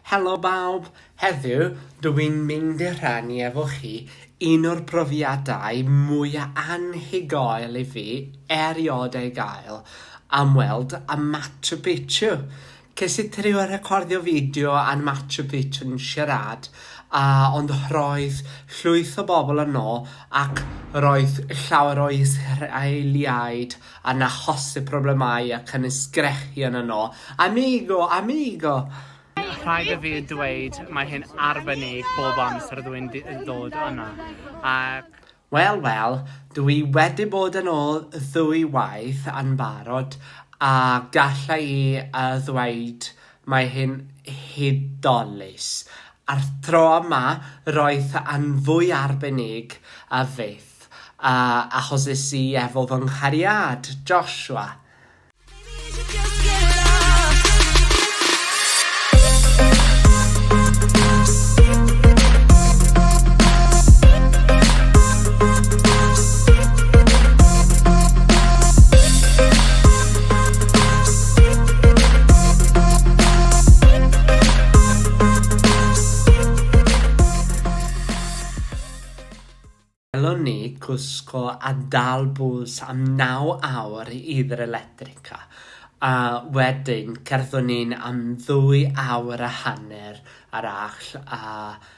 Helo bawb! Heddiw, dw i'n mynd i rhannu efo chi un o'r profiadau mwya anhygoel i fi erioed ei gael, am weld y Machu Picchu! Ces i trio recordio fideo a'r Machu Picchu'n siarad, a ond roedd llwyth o bobl yno ac roedd llawer o Israeliaid yn achosi problemau a chynnwys sgrechian yno, Amigo! Amigo! Rhaid i fi ddweud, mae hi'n arbennig bob amser ydw i'n dod yna, ac. Wel, wel, dw i wedi bod yn ôl ddwy waith yn barod, a galla i ddweud Mae hi'n hudolus. A'r tro yma, roedd yn fwy arbennig a fyth, a achoses i efo fy nghariad, Joshua. Gallwn ni gwisgo a dal bws am 9 awr i'r Electrica, a wedyn cerddwn ni am ddwy awr a hanner ar agll a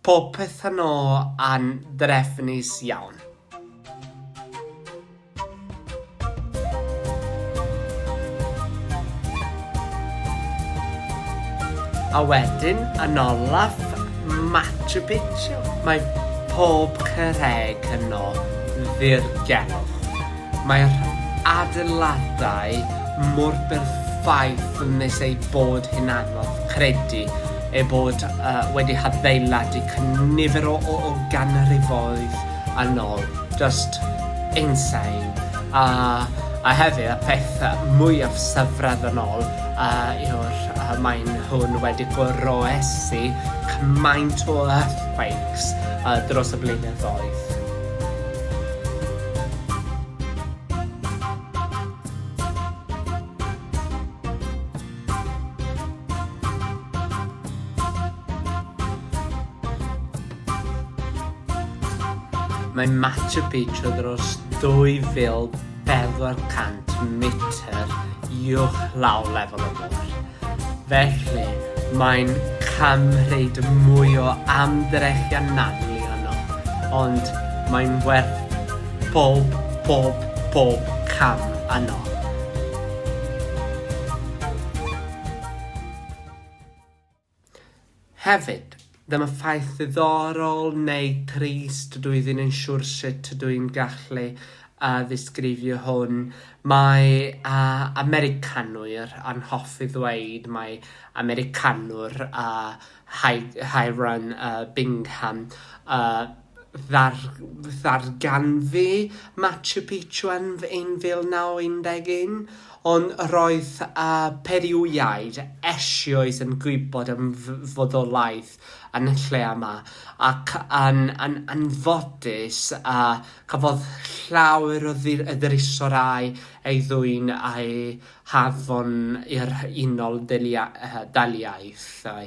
Popeth yno yn drefnus iawn. A wedyn yn olaf Machu Picchu. Mae pob cyrreg yno ddirgelwch. Mae'r adeiladau mor berffaith nes eu bod hi'n anodd credu eu bod wedi hadeiladu cynifer o ganrifoedd yn ol. Just insane. A hefyd, y peth mwyaf syfrdanol yw'r maen nhw'n wedi goroesi cymaint o earthquakes dros y blynyddoedd. Mae Machu Picchu dros 2,400 metr uwch law lefel y môr. Felly, mae'n cymryd mwy o amdrechion nagni yno, ond mae'n werth pob, pob, pob cam yno. Hefyd, dyma ffaith ddiddorol neu trist, dw i ddim yn siwr sut ydw i'n gallu yy ddisgrifio hwn, mae yy Americanwyr yn hoffi ddweud mai Americanwr yy Hy- Hiram yy Bingham yy ddarganfu Machu Picchu yn 1911, ond roedd y Periwiaid eisioes yn gwybod am fodolaeth y lle yma, ac yn anffodus, cafodd llawer o ddrysorau ei ddwyn a'u hanfon i'r Unol Daliaethau.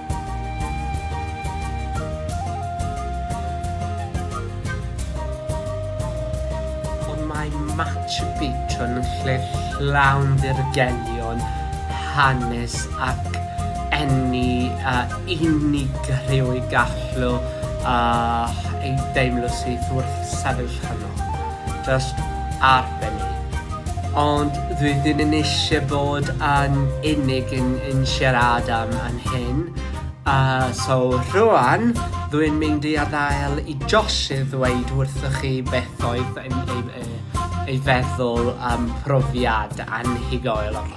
Ond mae Machu Picchu yn lle llawn dirgelion, hanes ac eni a unigrywyd gallu ei deimlo syth wrth sefyll yno. Just ar fyny. Ond rydyn yn eisiau bod yn unig yn, yn siarad am yn hyn. Uh, so rwan, rwy'n mynd i adael i Josh i ddweud wrthych chi beth oedd ei, ei, ei feddwl am profiad anhygoel o'r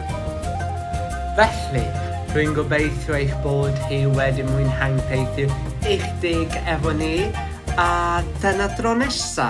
Felly, rwy'n gobeithio eich bod chi wedi mwynhau'n peithu eich deg efo ni, a dyna dro nesa!